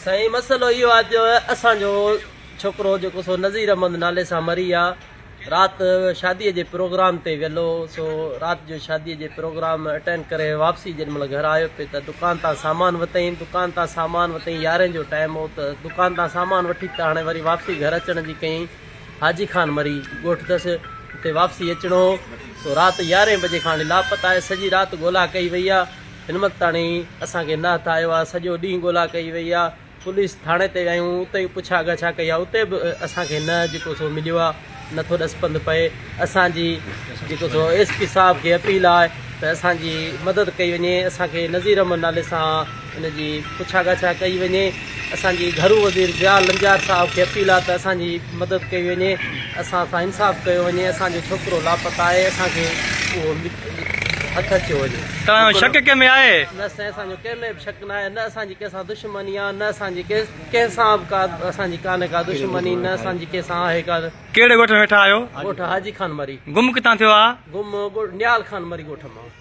سائين مسئلو اهو آهي جو اسان جو ڇوڪرو جيڪو سو نظير احمد نالي سان مري ويا رات شادي جي پروگرام تي ويل هو سو رات جو شادي جي پروگرام اٽينڊ ڪري واپسي جڏهن مهل گهر آيو پي ته دڪان تان سامان وتئين دڪان تان سامان وتئين يارهين جو ٽائيم هو ته دڪان تان سامان وٺي ته هاڻي وري واپسي گهر اچڻ جي ڪئين حاجي خان مري ڳوٺ تس اتي واپسي اچڻو هو سو رات يارهين بجي کان هڻي لاپتا آهي سڄي رات ڳولا ڪئي وئي آ هن وقت تاڻي اسان کي نه هٿ آيو آ سڄو ڏينهن ڳولا ڪئي وئي آ پوليس ٿاڻي تي ويايون اتي پڇا ڳاڇا ڪئي آ اتي به اسان کي نه جيڪو سو مليو آ نه ٿو ڏس پنڌ پئي اسان جي جيڪو سو ايس پي صاحب کي اپيل آهي ته اسان جي مدد ڪئي وڃي اسان کي نظير احمد نالي سان ان جي پڇا ڳاڇا ڪئي وڃي، اسان جي گهرو وزير ضياء لنجار صاحب کي اپيل آهي ته اسان جي مدد ڪئي وڃي، اسان سان انصاف ڪيو وڃي، اسان جو ڇوڪرو لاپتا آهي، اسان کي اهو هٿ اچيو وڃي. توهان ۾ شڪ ڪنهن ۾ آهي؟ نه سائين اسان جو ڪنهن ۾ به شڪ ناهي، نه اسان جي ڪنهن سان دشمني آهي، نه اسان جي ڪنهن سان به ڪا اسان جي ڪانهي ڪا دشمني، نه اسان جي ڪنهن سان آهي ڪا. ڪهڙي ڳوٺ ۾ ويٺا آهيو؟ ڳوٺ حاجي خان مري. گم ڪتان ٿيو آهي؟ گم نيال خان مري ڳوٺ مان.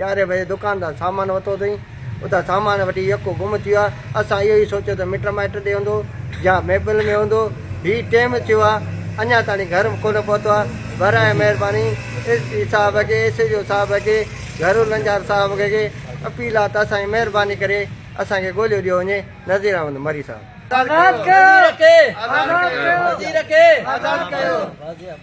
يارهين بجي دڪان تان سامان ورتو اٿئين، اتان سامان وٺي يڪو گم ٿي ويو آهي، اسان اهو ئي سوچيو ته مٽ مائٽ ڏي هوندو يا ميپل ۾ هوندو، هي ٽيم ٿيو آهي اڃا تائين گهر ڪونه پهتو آهي، براهه مهرباني ايس پي صاحب کي، ايس ايڇ او صاحب کي، گهرو لنجار صاحب کي اپيل آهي ته اسان جي مهرباني ڪري اسان کي ڳوليو ڏيو وڃي، نذير احمد مري صاحب. آزاد ڪيو وزير کي آزاد ڪيو.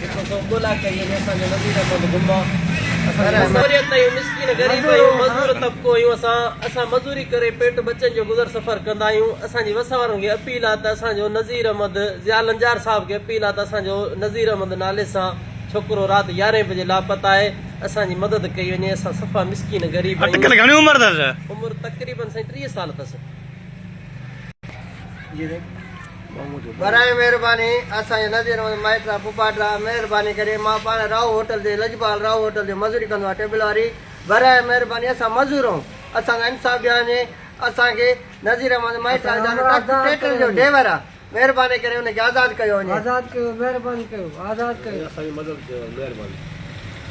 جيڪو سو ڳولا ڪئي ۽ اسان جو وزير احمد گما اسان جي اڪثريت ۽ مسڪين غريب ۽ مزور طبقو آهيون اسان اسان مزوري ڪري پيٽ ٻچن جو گذر سفر ڪندا آهيون اسان جي وس وارن کي اپيل آهي ته اسان جو نذير احمد ضياء لنجار صاحب کي اپيل آهي ته اسان جو نذير احمد نالي سان ڇوڪرو رات يارهين بجي لاپته آهي اسان جي مدد ڪئي وڃي اسان صفا مسڪين غريب آهيون اٽڪل گهڻي عمر اٿس عمر تقريبن سائين ٽيهه سال اٿس. براهه مهرباني اسان جي نظير احمد مائٽرا ڦوپاٽرا مهرباني ڪري مان پاڻ راهو هوٽل تي لجپال راهو هوٽل تي مزوري ڪندو آهيان ٽيبل واري براهه مهرباني اسان مزور آهون اسان سان انصاف ڏيان جي اسان کي نظير احمد مائٽرا ويچارو ٽرڪ ٽريڪٽر جو ڊيور آهي مهرباني ڪري ان کي آزاد ڪيو وڃي. آزاد ڪيو مهرباني ڪيو آزاد ڪيو. اسان جي مدد ڪيو مهرباني.